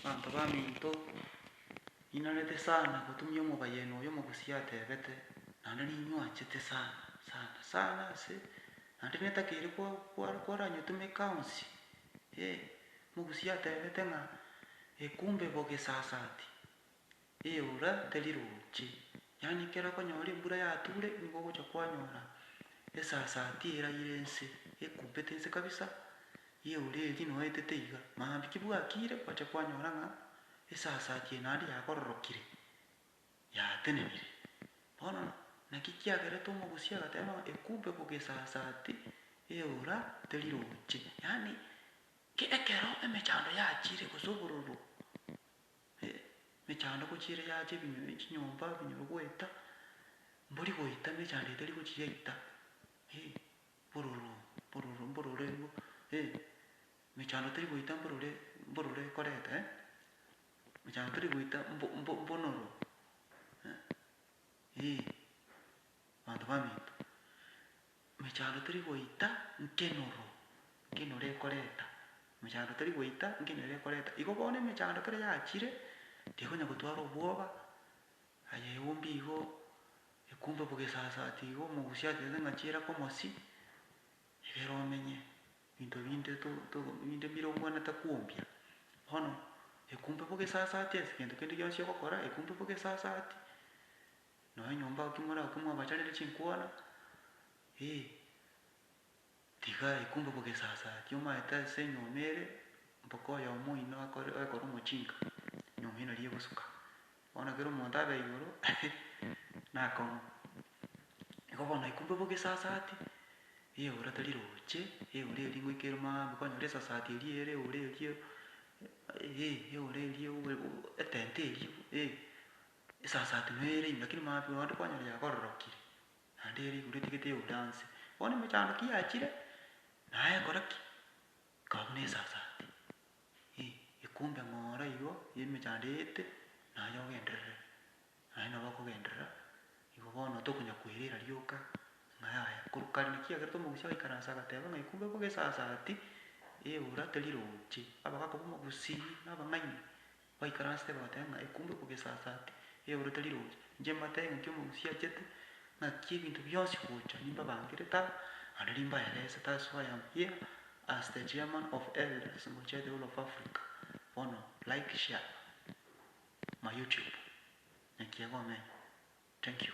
Abanto baminto, ninarete sana gotumia omobayeno oyo omogusia atebete, naende ninywanchete sana sana sana ase naende netakeire koranyotumeka onsi, eh, omogusia atebete ng'a, ekumbe bogesasati. eora teri roche, yaani ekero okonyora embura yature nigo ogocha kwanyora esasati eraire ense, ekumpete ense kabisa, eora eria noetete iga, maambia ki bwakire kwacha kwanyora ng'a esasati eye naende yakororokire, yatenenire. Bono naki kiagerete omogusii agateba ng'a ekumpe ko gesasati, eora teri roche. Yaani, ekero emechando yachire gose obororo Emechando gochia ere yacha ebinyoro echinyomba ebinyoro goeta, mbori goeta emechando etari gochia yaita, mbororo mbororo mbororo erio emechando teri goita mbororo mbororo ekoreta eh, emechando teri goita mbo mbo mbonoro eh, abanto baminto. Emechando teri goita nkenoro, nkenoro ekoreta, emechando teri goita nkenoro ekoreta. Igo bono emechando ekero yachire, tekonya gotwara obwoba, aye eumbie igo, ekumbe bo gesasati igo, omogusie atete ng'a chiira komosi, egere omenye, binto binde to to binde mbire obwenerete kwombia. Bono ekumbe bo gesasati ase egento kende gionsi ogokora, ekumbe bo gesasati, Nonya nyomba oo kimoraokwe mwabacharire chinkwana, ee, tiga ekumbe bogesasa kiomaete ase enyomba ere, mpaka oyomo oino akore oekore omochinka, enyomba eria nari egosuka. Bono ekero omonto abe igoro, nakong'u. Igo bono ekumbe bogesasati, eora tari roche, eora eria ngoika ere maambi konyora esasati eria ere eora eria, ee, eora eria obe etenti eria, ee, Esasa atumeire inwe, lakini maambia onde kwanyora yakororokire, naende ere igoro etigete eure anse. Bono emechando ki yachire, naye ekora ki? Ekaba buna esasati, eh, ekumbe ng'ora igo y'emechando eete, naye ogenderere. Naye nabo akogenderera, igo bono tokonya koirera rioka, ng'a yaya. Korwa kare naki kiagerete omogusi agaikaransa agateba ng'a ekumbe boka esasati, eura teri roche, abagaaka b'omogusi, na abang'aini, baikaransete goteeba ng'a ekumba ekobua esasaati, eyorete riroche. Inche mbateebie ng'a nki omogusi achete, ng'aki ebinto bionsi gocha nimbabangerete aba, naende nimbaeresete aa so I am here as the chairman of elders ngochia the whole of Africa, bono like share my YouTube, naki egomenya. Thank you.